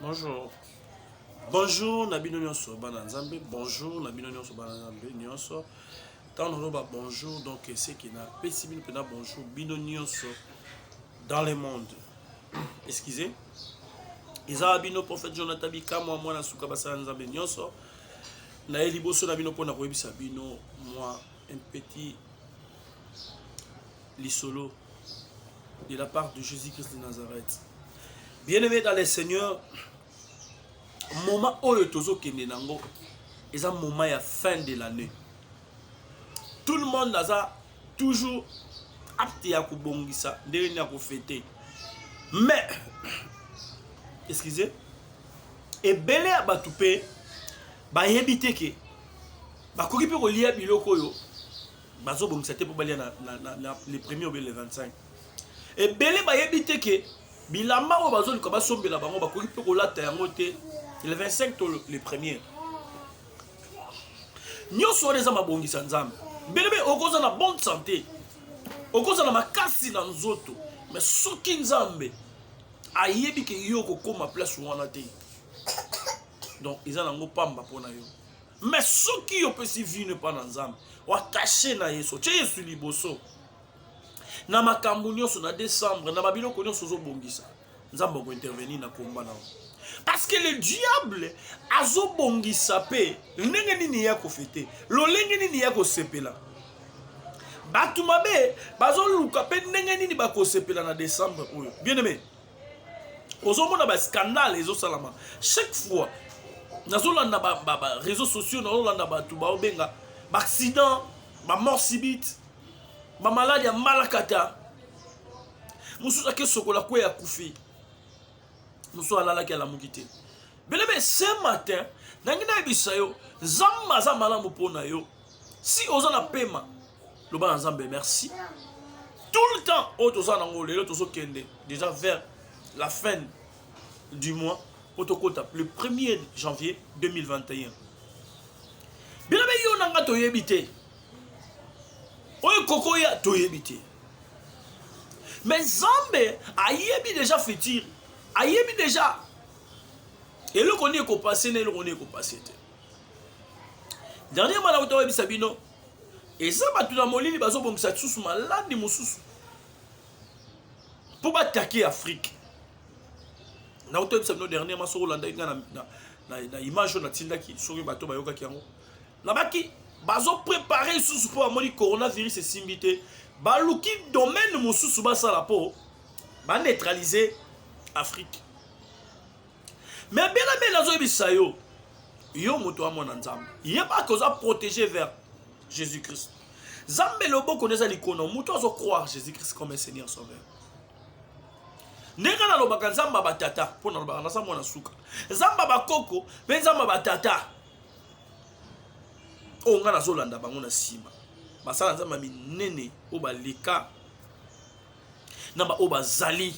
Bonjour. Bonjour na bino nyonso bana Nzambe. Bonjour na bino nyonso bana Nzambe nyonso. Tant nous ba bonjour donc c'est qui na pesi bino pena bonjour bino nyonso dans le monde. Excusez. Eza bino prophète Jonathan Bikamwa mwana suka basala Nzambe nyonso. Na ye liboso na bino pona koyebisa bino moi un petit lisolo de la part de Jésus-Christ de Nazareth. Bien-aimé dans le Seigneur, moment oyo tozokende nango eza moment ya fin de l'année. Tout le monde aza toujours apte ya kobongisa ndenge nini ya kofete. Mais excusez ebele ya bato mpe bayebi te ke bakoki mpe kolia biloko oyo bazo bongisa te po balia na, na, na, na le premier ou bien le 25 ebele bayebi te ke bilamba oyo bazoluka basombela bango bakoki mpe kolata yango te le 25 to le premier nyonso wana eza mabongisa nzambe belebe okoza na bonne santé okoza na makasi na nzoto me soki nzambe ayebi ke yo okokoma place wana te donc eza nango pamba mpo na yo mais soki yo opesi vie no epai na nzambe wakashe na yesu otye yesu liboso na makambo nyonso na décembre na babiloko nyonso ozobongisa nzambe akointervenir na komba na parce que le diable azobongisa mpe ndenge nini ye akofete lolenge nini ye akosepela bato mabe bazoluka mpe ndenge nini bakosepela na décembre oyo bien aime ozomona ba scandale ezosalama chaque fois nazolanda ba, ba, ba réseaux sociaux nazolanda bato baobenga baaccident bamort subite bamaladi ya malakata mosusu ake sokola kwe ya kufi mosusu alalaki alamuki te belebe ce matin nangi nayebisa yo nzambe aza malamu mpo na yo si oza na pema loba na nzambe merci tout le temps oyo toza nango lelo tozokende déjà vers la fin du mois mpo tokota le 1er janvier 2021 bino be yo na nga toyebi te oyo kokoya toyebi te me nzambe ayebi deja futur ayebi deja eloko nini ekopase na eloko nini ekopase te dernier mwana kuta oyebisa bino eza bato na molili bazobongisa lisusu maladi mosusu mpo batake afrike nauti oyebisa bino dernier ma soki olandaki ngai na, na, na image oyo natindaki soki bato bayokaki yango nabaki bazoprepare lisusu mpo bamoni coronavirus esimbi te baluki domaine mosusu basala mpo baneutralize afrike mais bela bela azoyebisa yo yo moto ya mwana nzambe yeba ke oza protégé vers jésus christ zambe loboko nde eza likono moto azo croire jésus christ comme un seigneur sauveur ndenge nalobaka nzambe batata mpo nalobaka naza mwana suka nzambe bakoko mpe nzambe batata oyo oh, ngai nazolanda bango na nsima basala nzambe minene oyo baleka na baoyo bazali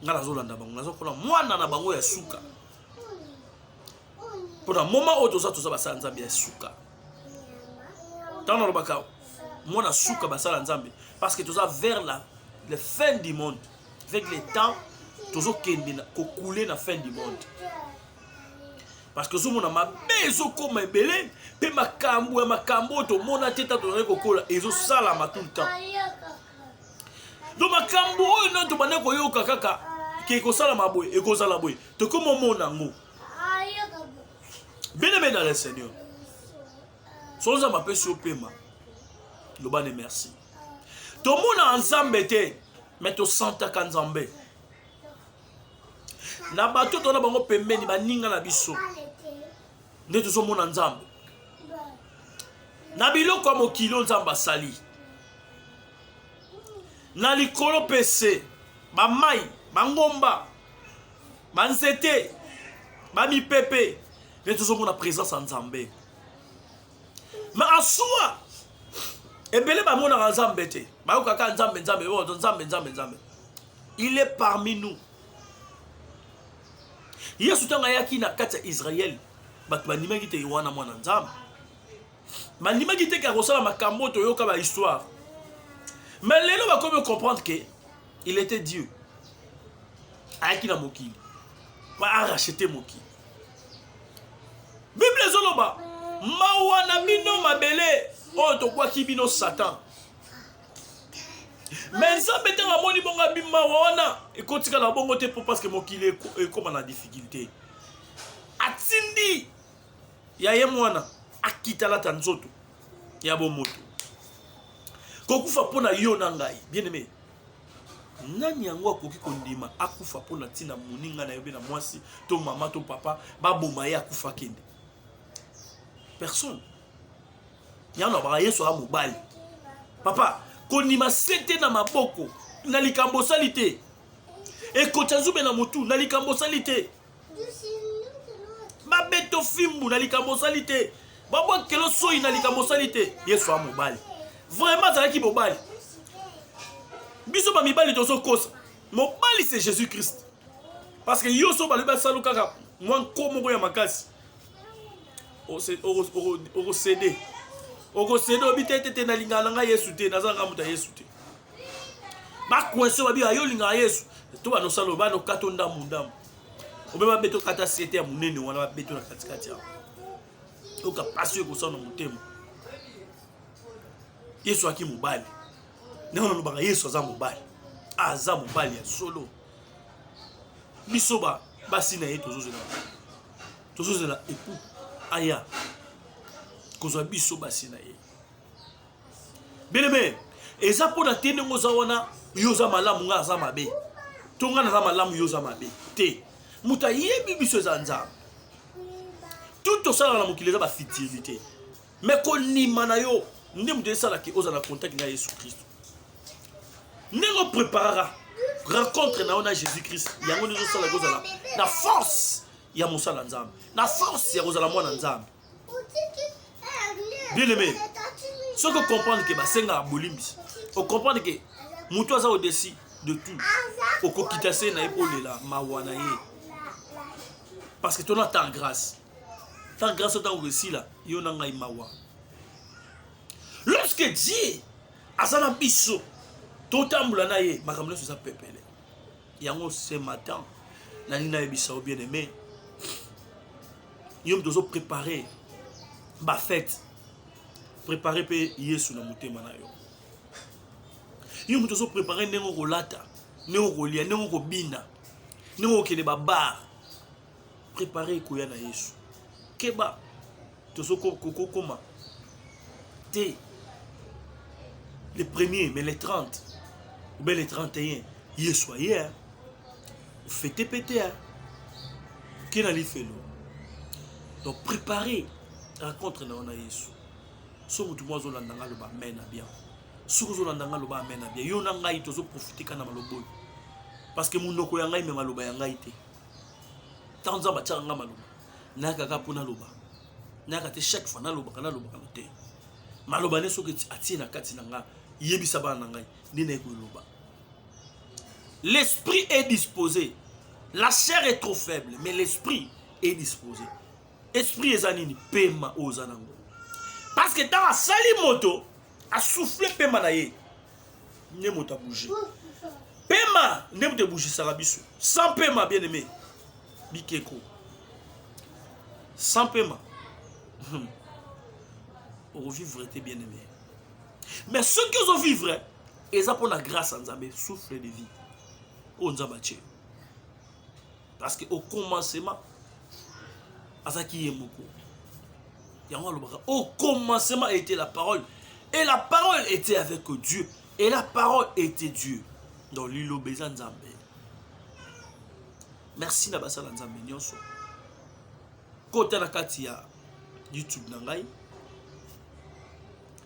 ngai nazolanda bango naza mpona mwana na bango ya suka mpona moma oyo toza toza basala nzambe ya suka ntango nalobaka mwana suka basala nzambe parce que toza vers la le fin du monde avec le temps tozokende kokule na fin du monde parce que ozomona mabe ezokoma ebele mpe makambo ya makambo oyo tomona te ntango tozali kokola ezosalama tout le temps donc makambo oyo nani tobandaki koyoka kaka ke ekosalama boye ekozala boye tokoma omona yango beneme na le seigneur solo nzambe apesi opema loba ne merci tomonaka nzambe te me tosantaka nzambe na bato tona bango pembeni baninga na biso nde tozomona nzambe na biloko ya mokili oyo nzambe asali na likolo mpe se bamai bangomba banzete bamipepe nde tozomona présence ya nzambe ma asua ebele bamonaka nzambe te bayokaka nzambe nzambe oyo oh, nzambe nzambe nzambe il est parmi nous yesu ntango ayaki na kati ya israele bato bandimaki te yowana mwana nzambe bandimaki te ke akosala makambo oyo toyoka bahistoire mais lelo bakomi comprendre ke il était dieu ayaki na mokili arachete mokili bible ezoloba mawa na bino mabele oyo tokwaki bino satan me nzambe ntango amoni bongo abimawa wana ekotikala bongo te mpo parceke mokili ekoma na difficulté atindi ya ye mwana akitalata nzoto ya bomoto kokufa mpo na yo na ngai bien aimé nani yango akoki kondima akufa mpo na ntina moninga na yo mpe na mwasi to mama to papa baboma ye akufa akende personne yango nabaka yesu aa mobali papa kondima sete na maboko na likambo osali te ekotya nzube na motu na likambo osali te babeto fimbu na likambo osali te babwakelo soyi na likambo osali te yesu a mobali vraiment azalaki mobali biso bamibali tozokosa mobali c'est jésus christ parce que yo so balobi basalu kaka mwa nko moko ya makasi okosede okosede obi te te te nalingaka na ngai yesu te naza nanga moto ya yesu te bakuense babiba yo olingaka yesu to banosalo banokato ndambu ndambu obe babeto kata sete ya monene wana babeto na katikati yango yoka mpasi oyo ekosala na motema yesu aki mobali ndenge nalobaka yesu aza mobali aza mobali ya solo biso basi na ye tozozela tozozela epu aya kozwa biso basi na ye Bien-aimé, eza mpo na te ndenge oza wana yo oza malamu ngai aza mabe to ngai naza malamu yo oza mabe te moto ayebi biso eza nzambe tout osalaka na mokili eza bafitilité me konima na yo nde moto esalaka ozala na contact na yesu kristo ndenge opreparaka rencontre na yo na jésus christ yango nde ezosalaka ozala na force ya mosala nzambe na force ya kozala mwana nzambe bien aimé soki ocomprendre ke basengaka bolimbisi ocomprendre ke motu aza odesi de tout okokita se na ye mpo olela mawa na ye parce que tona ta grâce ta grâce otango esila yo na ngai mawa lorsque dieu aza na biso totambola na ye makambo nyonso eza pepele yango ce matin nalingi nayebisa yo bien aimé yo moto ozo prépare bafete prépare mpe yesu na motema na yo yo moto ozo prépare ndenge okolata ndenge okolia ndenge okobina ndenge okokende babar prépare ekoya na yesu keba tozokokoma te le premier mais le 30 obe le 31 yesu aye fete pete ya ke na lifelo donc prépare rencontre na yo na yesu so motu mwa azolanda ngai aloba amen na bien soki ozolanda ngai aloba amen na bien yo na ngai tozoprofite ka na maloba oyo parce que monoko ya ngai me maloba ya ngai te ntango nzambe atyaka ngai maloba nayakaka mpo naloba nayaka te chaque fois nalobaka nalobaka te maloba nde soki atie na kati na ngai yebisa bana na ngai nde naye koloba L'esprit est dispose, la chair est trop faible, mais l'esprit est dispose. Esprit eza nini? Pema oyo oza nango. Parce que ntango asali moto, asouffle pema na ye, nde moto abouge. Pema nde moto ebougisaka biso. Sans pema, bien aimé, bikeko. Sans pema, hmm. okovivre te bien aimé. Mais soki ozovivre, eza mpo na grâce ya nzambe souffle de vie oyo nzambe atye yo parce que au commencement azalaki ye moko yango alobaka au commencement était la parole et la parole était avec dieu et la parole était dieu donc liloba eza nzambe merci na basala nzambe nyonso kota na kati ya youtube na ngai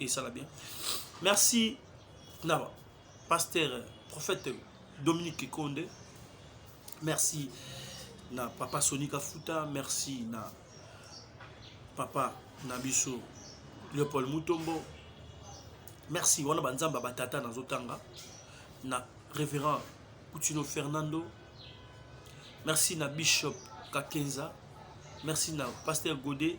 esala bien merci na pasteur prophète dominique kikonde merci na papa soni kafuta merci na papa na biso leopold mutombo merci wana banzambe ya batata nazotanga na révérend kutino fernando merci na bishop kakenza merci na pasteur gode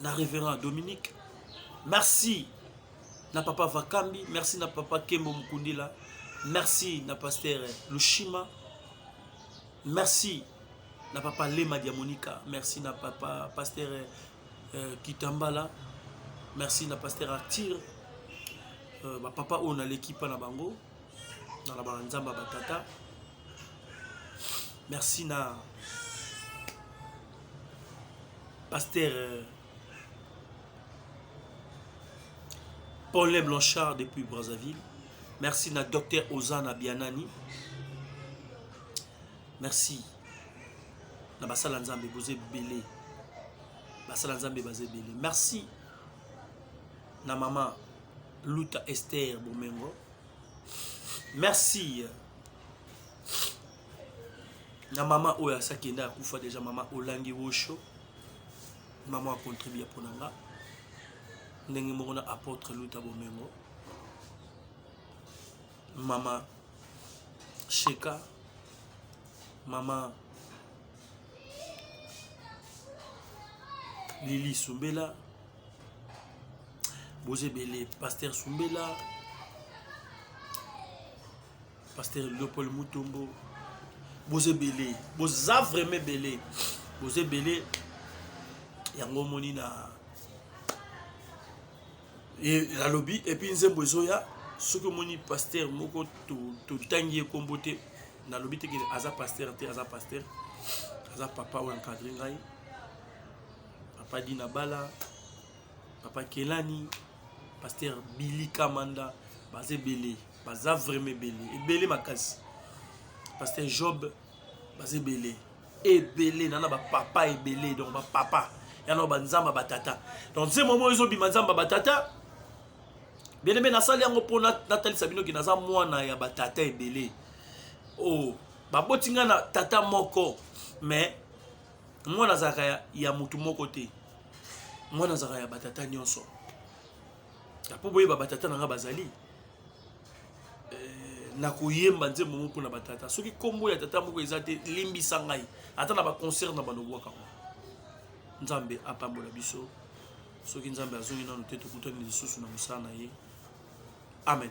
na reverend dominique merci na papa vakambi merci na papa kembo mukundila merci na paster lushima merci na papa lema diamonika merci na papa paster euh, kitambala merci na paster artire euh, bapapa oyo naleki mpa na bango nalobaka nzambe ya batata merci na pasteur euh, paulin blanchard depuis brazzaville merci na docteur ozana bianani merci na basala nzambe boza ebele basala nzambe baza ebele merci na mama Luta Esther Bomengo. Merci. Na mama oyo asakenda akufa deja mama Olangi Wosho. Mama akontribue mpo na nga. Ndenge moko na apôtre Luta Bomengo. Mama Sheka. Mama Lili Sumbela. boza ebele paster sumbela paster leopold mutombo boza ebele boza vraiment ebele boza ebele yango omoni na nalobi epuis nzembo ezoya soki omoni paster moko totangi ye nkombo te nalobi te aza paster te aza paster aza papa oyo encadre ngai papa dina bala papa kelani pasteur billy kamanda baza ebele baza vraiment ebele ebele makasi pasteur job baza ebele ebele nana bapapa ebele donc bapapa yana banzamba batata donc nse momo ezobima nzamba batata bene mbe nasali yango mpo natalisa bino ke naza mwana ya batata ebele o oh, baboti ngai na tata moko mais mwana azalaka ya, ya motu moko te mwana azalaka ya batata nyonso mpo boyeba batata na ngai bazali eh, na koyemba nzembo moko na batata soki nkombo ya tata moko eza te limbisa ngai ata na baconcert na balobwaka ngo nzambe apambola biso soki nzambe azongi nano te tokutani lisusu na mosala na ye amen